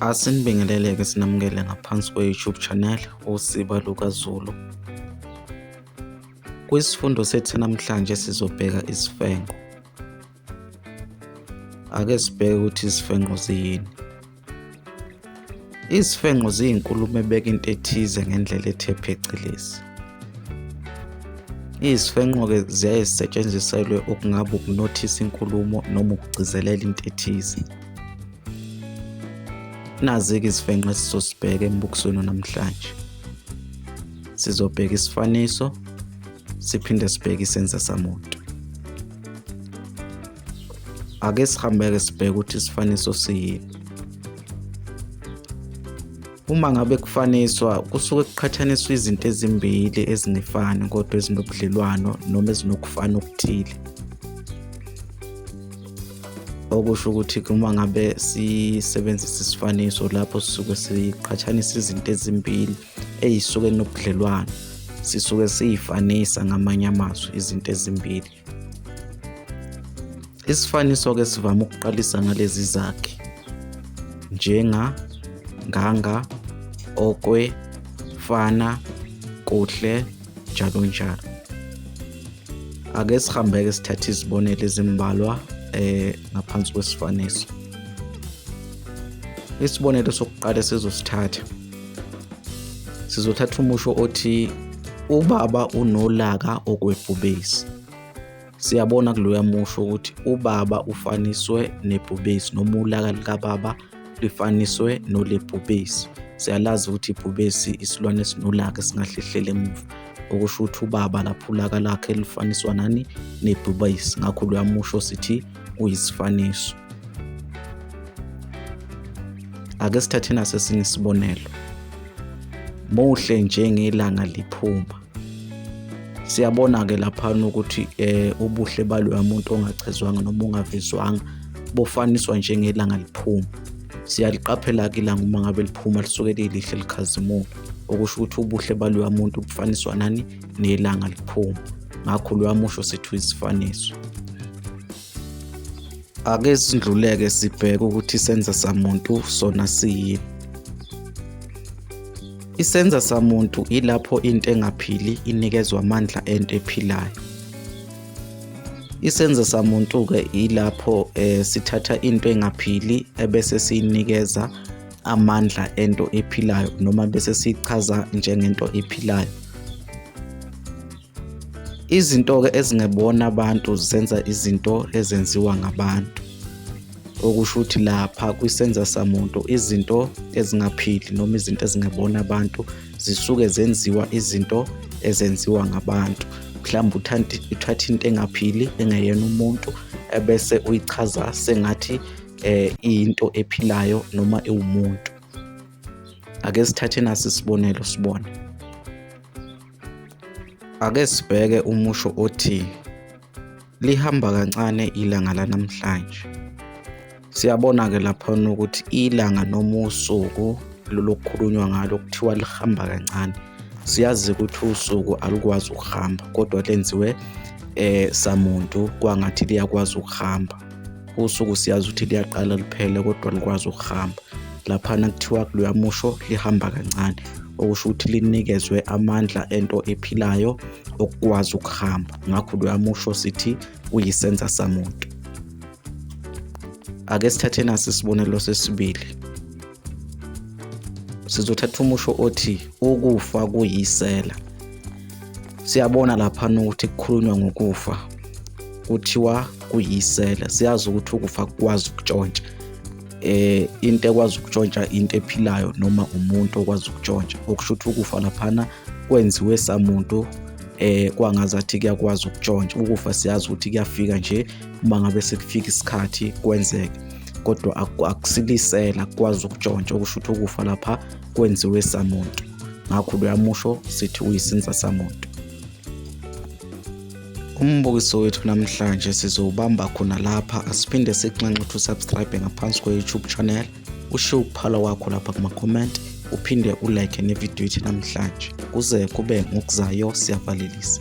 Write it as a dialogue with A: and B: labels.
A: Asinibingelele-ke sinamukele ngaphansi kwe-YouTube channel uSiba LukaZulu. Kwisifundo sethu namhlanje sizobheka isifenqo. Ake sibheke ukuthi izifenqo ziyini. Izifenqo ziyinkulumo ebeka into ethize ngendlela ethe phecelezi. Izifenqo-ke ziyaye zisetshenziselwe okungaba ukunothisa inkulumo noma ukugcizelela into ethize. Nazi-ke izifenqe esizosibheka embukisweni namhlanje. Sizobheka isifaniso siphinde sibheke isenza samuntu. Ake sihambeke sibheke ukuthi isifaniso siyini. Uma ngabe kufaniswa kusuke kuqhathaniswa izinto ezimbili ezingefani kodwa ezinobudlelwano noma ezinokufana okuthile. Okusho ukuthi uma ngabe sisebenzisa isifaniso lapho sisuke siqhathanisa izinto ezimbili ey'suke nobudlelwano sisuke siyifanisa ngamanye amazwi izinto ezimbili. Isifaniso-ke sivame ukuqalisa ngalezi zakhi njenga, nganga, okwe, fana, kuhle, njalo njalo. Ake sihambeke sithathe izibonelo ezimbalwa eh ngaphansi kwesifaniso. Isibonelo sokuqala sizosithatha sizothatha umusho othi ubaba unolaka okwebhubesi siyabona kuloya musho ukuthi ubaba ufaniswe nebhubesi noma ulaka likababa lifaniswe nolebhubesi siyalazi ukuthi ibhubesi isilwane esinolaka esingahlehlela emuva okusho ukuthi ubaba lapho ulaka lakhe lifaniswa nani nebhubesi ngakho loya musho sithi kuyisifaniso. Ake sithathe naso esinye isibonelo. Muhle njengelanga liphuma. Siyabona-ke laphana ukuthi eh, ubuhle baloya muntu ongachezwanga noma ongavezwanga bofaniswa njengelanga liphuma. Siyaliqaphela-ke ilanga uma ngabe liphuma lisuke lilihle likhazimuka okusho ukuthi ubuhle baloya muntu bufaniswa nani nelanga liphuma ngakho luyamusho sethu isifaniso ake sidluleke sibheke ukuthi senza samuntu sona siyini isenza samuntu ilapho into engaphili inikezwa amandla ento ephilayo isenza samuntu-ke ilapho um sithatha into engaphili ebese siyinikeza amandla ento ephilayo noma bese sichaza njengento ephilayo izinto-ke ezingebona abantu zenza izinto ezenziwa ngabantu okusho ukuthi lapha kwisenza samuntu izinto ezingaphili noma izinto ezingebona abantu zisuke zenziwa izinto ezenziwa ngabantu mhlawumbe uthatha into engaphili engeyena umuntu ebese uyichaza sengathi eh into ephilayo noma iwumuntu ake sithathe nasi isibonelo sibone ake sibheke umusho othi lihamba kancane ilanga lanamhlanje siyabona ke lapha ukuthi ilanga noma usuku lolokukhulunywa ngalo kuthiwa lihamba kancane siyazi ukuthi usuku alukwazi ukuhamba kodwa lenziwe eh samuntu kwangathi liyakwazi ukuhamba usuku siyazi ukuthi liyaqala liphele kodwa likwazi ukuhamba laphana kuthiwa luyamusho lihamba kancane okusho ukuthi linikezwe amandla ento ephilayo okukwazi ukuhamba ngakho luyamusho sithi uyisenza samuntu ake sithathe nasi isibonelo sesibili sizothatha umusho othi ukufa kuyisela siyabona lapha ukuthi kukhulunywa ngokufa kuthiwa kuyisela siyazi ukuthi ukufa kwazi ukutshontsha eh into ekwazi ukutshontsha into ephilayo noma umuntu okwazi ukutshontsha okusho ukuthi ukufa laphana kwenziwe samuntu eh kwangazathi kuyakwazi ukutshontsha ukufa siyazi ukuthi kuyafika nje uma ngabe sekufika isikhathi kwenzeke kodwa akusilisela kwazi ukutshontsha okusho ukuthi ukufa lapha kwenziwe samuntu ngakho uyamusho sithi uyisinza samuntu umbukiso wethu namhlanje sizowubamba khona lapha asiphinde sikunxenxe ukuthi usubscribe ngaphansi kwe-youtube channel ushiye ukuphala kwakho lapha kuma-comment uphinde ulike nevidiyo ithi namhlanje kuze kube ngokuzayo siyavalelisa